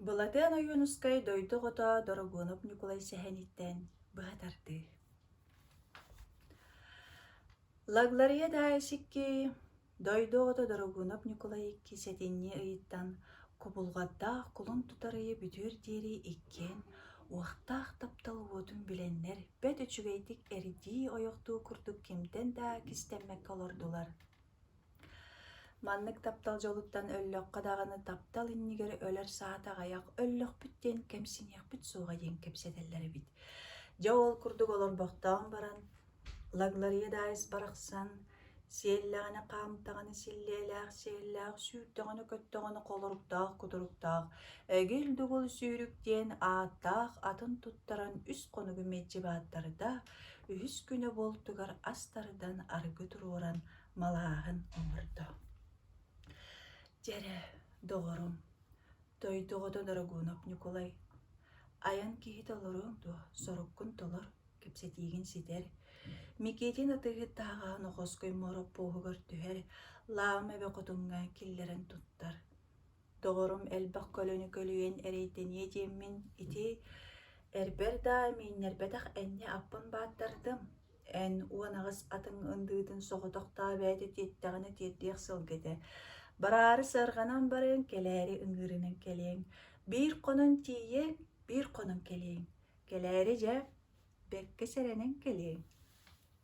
Былатыан Ойуунускай дойду оҕото Дорогуонап Ньукулай сэһэниттэн быһа тардыы Лаглария Даайыс икки дойду оҕото Дорогуонап Ньукулай икки сэтинньи ыйыттан кубулҕатдаах кулун тутар ыйы бүтүөр диэри иккиэн уохтаах таптал уотун билэннэр бэрт үчүгэйдик эрдии ойохтуу курдук кимтэн да кистэммэккэ олордулар Маннык таптал дьолуттан өллөххө даҕаны таптал иннигэр өлөр саата аҕыйах өллөхпүт диэн кэмсиниэхпит суоҕа диэн кэпсэтэллэр эбит. Дьэ ол курдук олорбохтоон баран Лаглария Дайс барахсан сиэллэҕинэ хаамтаҕына силлиэлээх сиэллээх сүүрдэҕинэ-көттөҕүнэ холоруктаах-кутуруктаах эгил-дугул сүүрүк диэн ааттаах атын туттаран үс хонугу мэлдьи бааттарыта Үһүс күнэ буолтугар ас тардан арыгы туруоран малааһын оҥордо. Дьэрэ, доҕорум, дойдугото Дорогунов Ньукулай, айан киһи толоруоҥ дуо, соруккун толор, кэпсэтиигин ситэр, Микитин атыыһыттааҕа Нохоской Моороппуоһугар түһэр, Лаама эбэ хотуҥҥа киллэрэн туттар, Доҕорум элбэх көлөнү көлүйэн эрэйдэниэ диэммин, ити эрбэр даа, мииннэрбэтэх энньэ аппын бааттардым, эн уон аҕыс атыҥ ындыытын соҕотохтообөөтө тиэттэҕинэ тиэрдиэх сылга этэ. Бараары сыарҕанан барыаҥ, кэлээри ыҥыырынан кэлиэҥ, биир хонон тиийиэҥ, биир хонон кэлиэҥ, кэлээри дьэ бэркэ сэрэнэн кэлиэҥ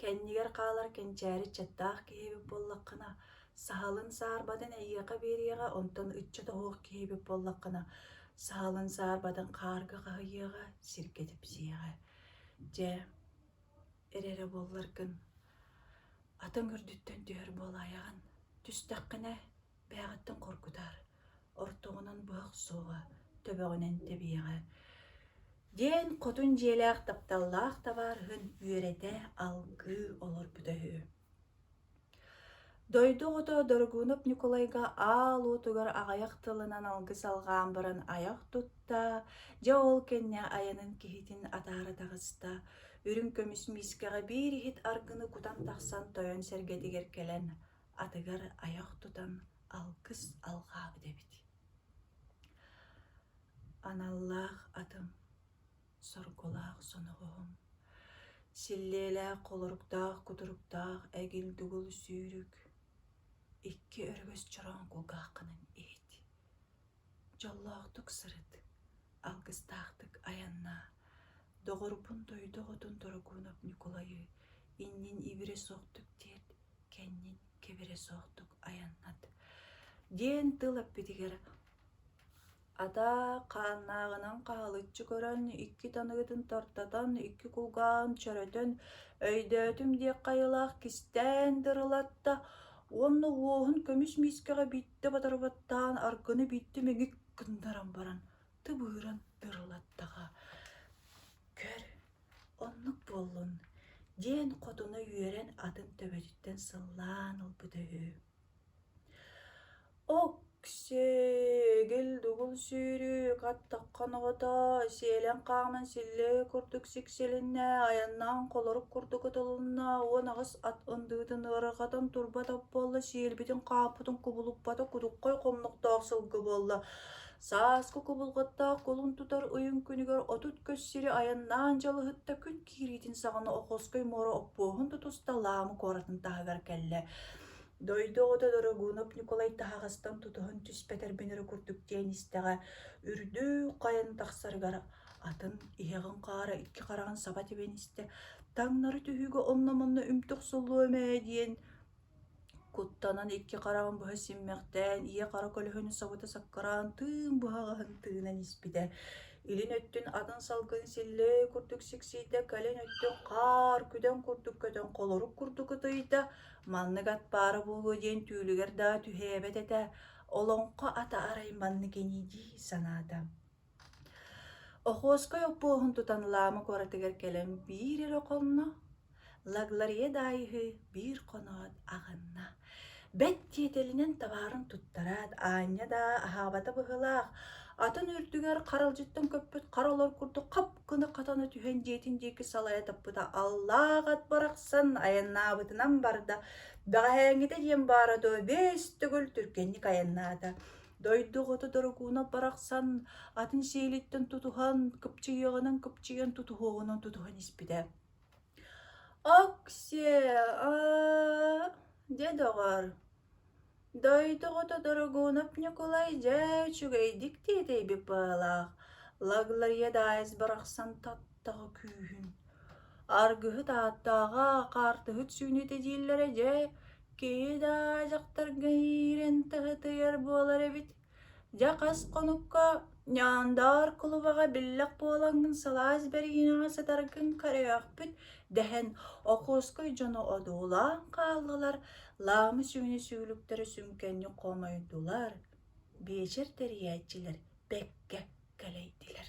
Кэннигэр хаалар кэнчээри ыччаттаах киһи эбит буоллаххына, саһылын саарбатын эйиэхэ биэриэҕэ, онтон ыччат оһуох киһи эбит буоллаххына, саһылын саарбатын хаарга хаһыйыаҕа, сиргэ типсиэҕэ. Дьэ, эрэрэ буолларгын, атын үрдүттэн түһэр буолаайаҕын, түстэххинэ, бээҕиттэн хоргутар. ортоҕунан быһах суоҕа төбөҕүнэн тэбиэҕэ диэн хотун дьиэлээх тапталлаах табаарыһын үөрэтэ алгыы олорбута үһү дойду оҕото дорогунов ньукулайга аал уотугар аҕыйах тылынан алгыс алҕаан баран айах тутта дьэ ол кэннэ айанын киһитин атаара таҕыста үрүҥ көмүс миискэҕэ биир иһит аргыны кутан тахсан тойон сэргэтигэр кэлэн атыгар айах тутан алгыс алҕаабыт эбит аналлаах атым соргулаах соноҕоһум силлиэлээх холоруктаах кутуруктаах эгил дугул сүүрүк икки өрүгэс чороон кулгааххынан иһит дьоллоохтук сырыт алгыстаахтык айаннаа доҕорбун дойду оҕотун дорогунов ньукулайы иннин ибирэ суохтук тиэрт кэннин кэбирэ суохтук айаннат диэн тыл эппитигэр атаа хааннааҕынан хаһылыччы көрөн икки таныгытын тартатан икки кулгаан чөрөтөн өйдөөтүм диэх хайалаах кистээн дырылатта уонна уоһун көмүс миискэҕэ биттэ батарбаттаан аргыны бүттэ мэгик гыннаран баран тыбыыран дырылаттаҕа көр Оннук буоллун, диэн хотуна үөрэн атын төбөтүттэн сыллаан ылбыта үһү. Оксээгил-дугул сүүрүү хаттахха ноҕото, сиэлэн хааман силлэһи курдук сиксилиннэ, айаннаан холорук курдук ытылынна, уон аҕыс ат ындыытын ыарахатын турбатах буолла, сиэлбитин-хааппытын кубулуппата кудуххай хомнохтоох сылгы буолла. Сааскы кубулҕаттаах кулун тутар ойуун күнүгэр отут көс сири айаннаан дьалыһытта күн киириитин саҕана Охоской муора оппуоһун тутуста Лаамы куоратын таһыгар кэллэ. Дойду оҕото Дорогунов Ньукулай таһаҕастан тутуһан түспэтэр бинэрэ курдук диэн истэҕэ, үрдүк хайан тахсарыгар атын иһэҕин хаара икки хараҕын саба тибэн истэ, таҥнары түһүүгэ онно-манна үмтүк суллуом ээ диэн Куттанан икки хараҕын быһа симмэхтээн, ийэ-хара көлөһүнү сабыта саккыраан тыын быһаҕаһын тыынан испитэ. Илин өттүн атын салгын силлэй курдук сиксийдэ, кэлин өттүн хаар күдэн курдук көтөн холорук курдук ытыйда, маннык ат баара буолуо диэн түүлүгэр даа түһээбэт этэ, олоҥхо ата арай маннык ини дии санаата Охотскай оппуоһун тутан Лаама куоратыгар кэлэн биир эрэ хонно, Лагларье даайыһы биир хоноот аҕынна. Бэт тиэтэлинэн табаарын туттараат, аанньа даа аһаабата быһыылаах, атын үрдүгэр харалдьыттан көппүт хара олор курдук хап гына хатана түһэн дьиэтин диэки салайа таппыта аллаах ат барахсан айаннаабытынан барда. «Бэҕэһээҥҥитэ» диэн баара дуо, бэс төгүл түргэнник айаннаата. Дойду оҕото Дорогунов барахсан атын сиилиттэн тутуһан, кыпчыйыаҕынан кыпчыйан тутуһуоҕунан тутуһан испитэ. Оксе, аа, дьэ доҕоор, дойду оҕото Дорогунов Ньукулай дьэ үчүгэйдик тиэтэйбит баҕалаах Лаглария Даайыс барахсан тап таҕа күүһүн аргыһыт ааттааҕа хаартыһыт сүүнүүтэ дииллэрэ дьэ киһи даа дьахтарга иирэн тыһытыйар буолар эбит дьэ хас хонукка ньаандаар кулубаҕа биллэх буолаҥҥын сылаас бэриинэҕэ сытаргын көрүөхпүт дэһэн Окуоскай дьоно одуулаан хааллылар Лаамы-сүүнэ сүүлүктэрэ сүҥкэнник хомойдулар биэчэр тэрийээччилэр бэккэ кэлэйдилэр